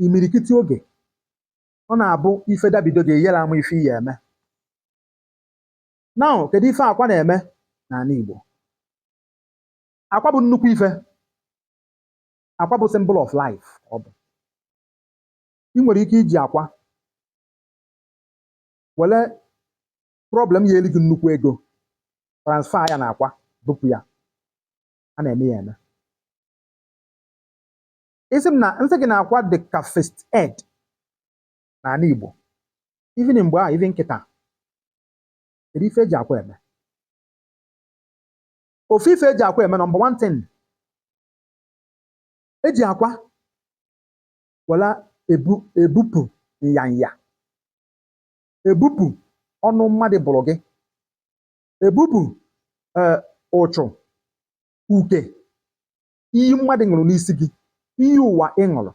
imirikiti oge, ọ na-abụ ife dabido gị, ị yara ama ife ị ya-eme. Now, kedu ife akwa na-eme n'anị Igbo? Akwa bụ nnukwu ife. Akwa bụ symbol of life ọ bụ. Ị nwere ike iji akwa were problem ya-eri gị nnukwu ego transfer ya na akwa bupụ ya. A na-eme ya eme. isi m na nsị gị na akwa dị ka first aid n'anị Igbo even mgbe a even kịta kedu ife eji akwa eme ofu ife eji akwa eme number one thing eji akwa wela ebu ebupụ nyanya ebupụ ọnụ mmadụ bụrụ gị ebupụ ee eh, ụchụ uke iyi mmadụ ṅụrụ n'isi gị iyi ụwa ị ṅụrụ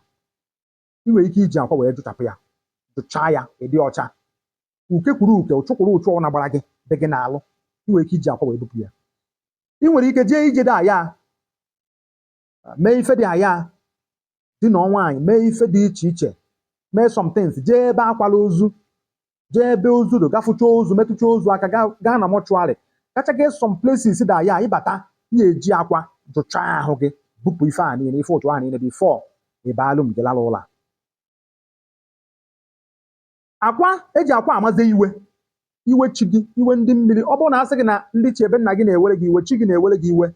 ị nwere ike iji akwa wee jụchapụ ya jụchaa ya ị dị ọcha uke kwuru uke ụchụ kwuru ụchụ ọ na-agbara gị dị gị n'alụ ị nwere ike iji akwa wee bupụ ya ị nwere ike jee ije dị aya mee ife dị aya di na nwaanyị mee ife dị iche iche mee some things jee ebe a kwara ozu jee ebe ozu dị gafụcha ozu metụcha ozu aka gaa gaa na mortuary gacha jee some places dị aya ị bata ị ya-eji akwa jụchaa ahụ gị bupụ ife a niile ife ụchụ a niile before ị baa room gị lara ụla akwa eji akwa amaze iwe iwe chi gị iwe ndị mmiri ọ bụrụ na a sị gị na ndị ichie be nna gị na-ewere gị iwe chi gị na-ewere gị iwe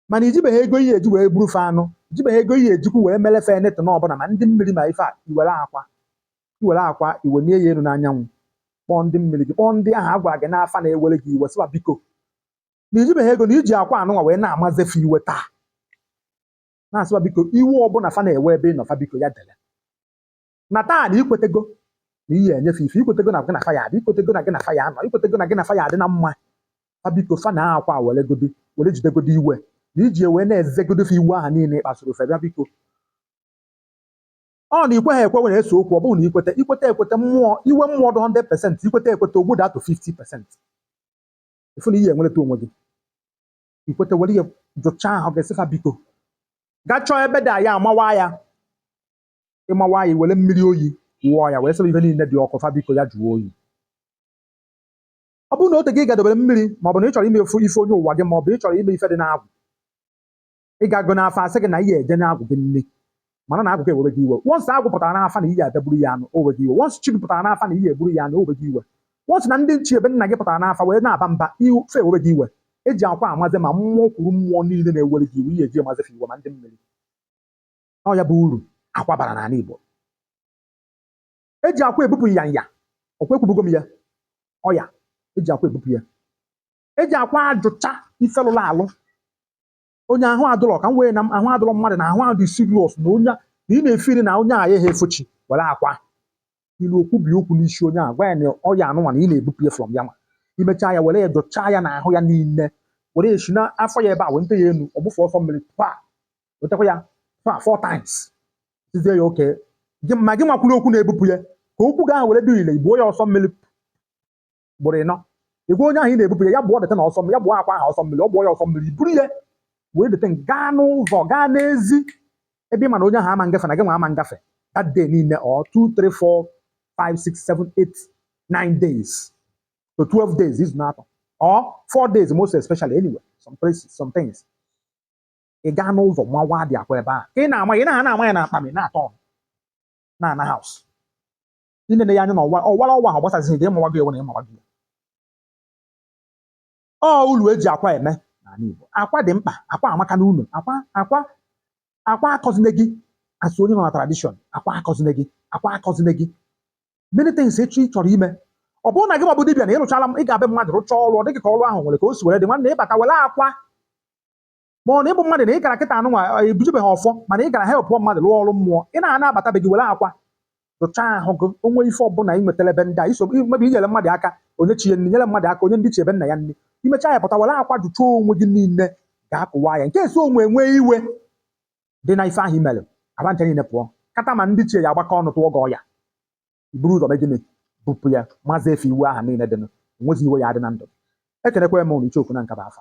mana i jibeghị ego ị ya-eji wee gburu fa anụ i jibeghị ego ị ya-ejikwu wee mere fa anything ọbụla ma ndị mmiri ma ife a i were akwa i were akwa i welie ya elu n'anyanwụ kpọọ ndị mmiri gị kpọọ ndị ahụ a gwara gị n'afa na-ewere gị iwe sị fa biko na i jibeghị ego na i ji akwa anụnwa wee na-amaze fa iwe taa na-asị fa biko iwe ọbụla fa na-ewe ebe ị nọ fa biko ya dere na taa na i kwetego na ị ya-enye fa ife i kwetego na gị na fa ya-adị i kwetego na gị na fa ya-anọ i kwetego na gị na fa ya-adị na mma fa biko fa na akwa weregodi were jidegodi iwe na i ji wee na-ezegodi fa iwe ahụ niile ị kpasuru fa bịa biko ọ na i kweghị ekwe were ese okwu ọ bụrụ na i kweta i kweta ekweta mmụọ iwe mmụọ dị 100 percent i kweta ekweta o gbudatụ 50 percent ị fụ na ị ya-enwereta onwe gị i kweta were ya jụchaa ahụ gị sị fa biko gaa chọọ ebe dị aya amawa ya ị mawa ya i were mmiri oyi wụọ ya wee sị fa ife niile dị ọkụ fa biko ya jụọ oyi ọ bụrụ na ote gị ga-edobere mmiri ma ọ bụ na ị chọrọ ime efu ife onye ụwa gị ma ọ bụ ị chọrọ ime ife dị n'agwụ ị ga-aga n'afa a sị gị na ị ya-eje nye agwụ gị nni mana na agwụ gị ewere gị iwe once agwụ pụtara n'afa na ị ya-abịa gburu ya anụ o we gị iwe once chi gị pụtara n'afa na ị ya-egburu ya anụ o we gị iwe once na ndị ichie be nna gị pụtara n'afa wee na-aba mba ife ewe gị iwe eji akwa amazi ma mmụọ kwuru mmụọ niile na-ewere gị iwe ihe eji amazi fa iwe ma ndị mmiri ọ ya bụ uru akwa bara n'ala Igbo eji akwa ebupụ nyanya ọkwa ekwubugo m ya ọya eji akwa ebupụ ya eji akwa ajụcha ife lụrụ alụ onye ahụ adụlọ ka m wee na ahụ adụlọ mmadụ na ahụ ahụ dị serious na onye na ị na-efiri na onye a ya ha efochi were akwa ilu okwu bi okwu n'isi onye a gwa ya na ọya anụnwa na ị na-ebupụ ya from ya nwa i mechaa ya were ya jụchaa ya n'ahụ ya niile were si n'afọ ya ebe a wenite ya elu ọ gbụọ asọ mmiri pa wetakwa ya fa four times sizie ya okay ma gị nwa kwuru okwu na-ebupụ ya ka okwu gị ahụ were dị ile ị gbụọ ya asọ mmiri ugboro ịnọ ị gwa onye ahụ ị na-ebupụ ya ya gbụọ dịta na asọ mmiri ya gbụọ akwa ahụ asọ mmiri ọ gbụọ ya asọ mmiri i buru ya wee dịta gaa n'ụzọ gaa n'ezi ebe ị ma na onye ahụ ama ngafe na gị nwa ama ngafe that day niile or 2 3 4 5 6 7 8 9 days to 12 days izu n'atọ or 4 days most especially anyway some places some things ị gaa n'ụzọ mawa dị akwa ebe ahụ ka ị na-ama ị na-ha na-ama ya na akpami n'atọ na ana house i nene ya anya na ọ wa ọ wara ọ wahọ gbasazighị gị ị mawago were na ị mawago ọ ulu eji akwa eme n'ala Igbo akwa dị mkpa akwa amaka n'ụnọ akwa akwa akwa akọzine gị a sị onye nọ na tradition akwa akọzine gị akwa akọzine gị many things echi ị chọrọ ime ọ bụrụ na gị nwa bụ dibịa na ị rụchala m ị gaa be mmadụ rụchaa ọrụ ọ dị gị ka ọrụ ahụ nwere ka o si were dị nwanne ị bata were akwa ma ọ na ị bụ mmadụ na ị gara kịta anụnwa ebujubeghị ọfọ mana ị gara help mmadụ rụọ ọrụ mmụọ ị na-ana abata be gị were akwa jụchaa ahụ gị o nwee ife ọbụla ị nwetara ebe ndị a i so mebi inyere mmadụ aka o nye chi ya nri nyere mmadụ aka o nye ndịichie be nna ya nri i mechaa ya pụta were akwa jụchaa onwe gị niile gaa kụwaa ya in case o nwee iwe dị n'ife ahụ i mere aba ncha niile pụọ kata ma ndịichie ya agbakọ ọnụ tụọ gị ọya i buru ụzọ mee gịnị bupụ ya mazi ife iwe ahụ niile dịnụ enwezi iwe ya adị na ndụ ekenekwa m unu icheoku na nkaba afa